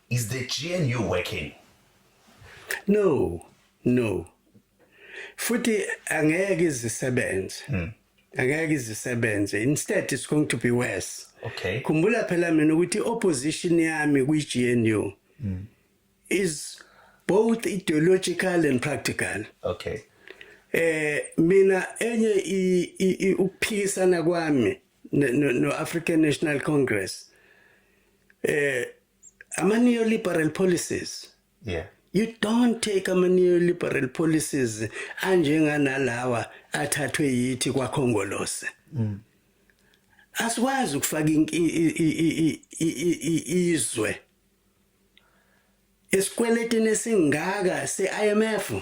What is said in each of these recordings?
Is the GNU working? No, no. Futhi angeke izisebenze. Hmm. Angeke izisebenze. Instead it's going to be worse. Okay. Khumbula phela mina ukuthi opposition yami kwi-GNU hmm. is both ideological and practical. Okay. Eh mina enye ukuphikisana kwami no-African National Congress eh ama neoliberal policies yeah you don't take ama neoliberal policies anjenganalawa athathwe yithi kwakhongolose mm. asikwazi ukufaka izwe esikweletini esingaka se-IMF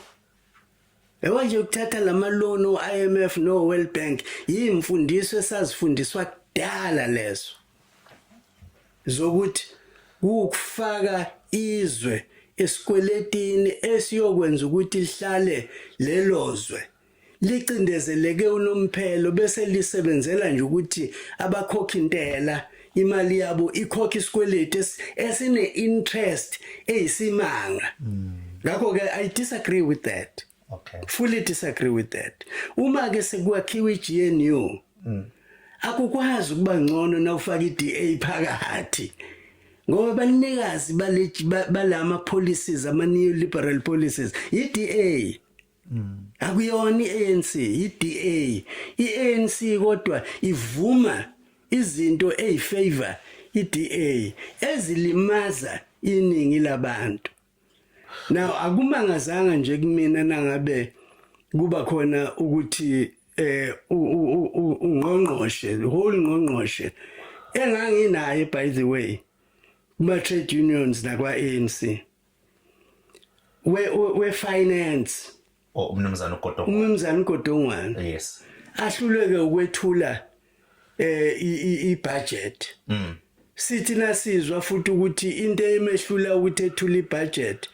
Yebo nje ukuthatha lama loan uIMF no World Bank yimfundiso esazifundiswa kudala lezo zokuthi ukufaka izwe esikweletini esiyokwenza ukuthi lihlale lelozwe licindezeleke unomphelo bese lisebenzela nje ukuthi abakhokhi intela imali yabo ikhokha isikweletu esine interest eyisimanga ngakho ke i disagree with that okay fully disagree with that uma ke sekwakhiwa iGNU mm. akukwazi ukuba ngcono na ufaka iDA phakathi ngoba banikazi balama policies ama neoliberal policies iDA akuyona iANC iDA iANC kodwa ivuma izinto ezifavor iDA ezilimaza iningi labantu now akumangazanga nje kumina nangabe kuba khona ukuthi eh ungqongqoshe whole ngqongqoshe enganginaye by the way kuma trade unions nakwa ANC we we finance oh, umnumzana uGodongwana umnumzana uGodongwana yes ahluleke ukwethula eh i budget mm sithi nasizwa futhi ukuthi into emehlula ukuthi ethule ibudget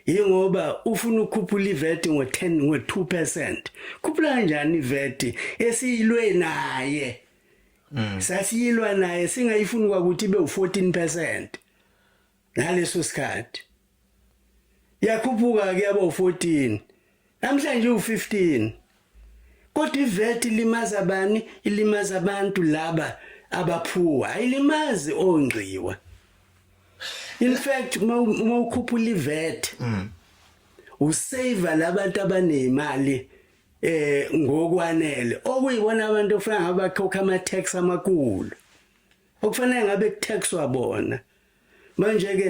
yingoba ufuna ukukhuphula iVAT ngo10 ngo2% khuphula kanjani iVAT esiyilwe naye mm. sasiyilwa naye singayifuni kwakuthi be u14% ngaleso sikhathi yakhuphuka ke yaba u14 namhlanje u15 kodwa ivet ilimaza bani ilimaza abantu laba abaphuwa ayilimazi ongqiwa in fact uma ukhuphula ivet mm. usave labantu abanezimali eh ngokwanele okuyibona abantu ofana abakhokha ama tax amakulu okufanele ngabe kuthaxwa bona manje ke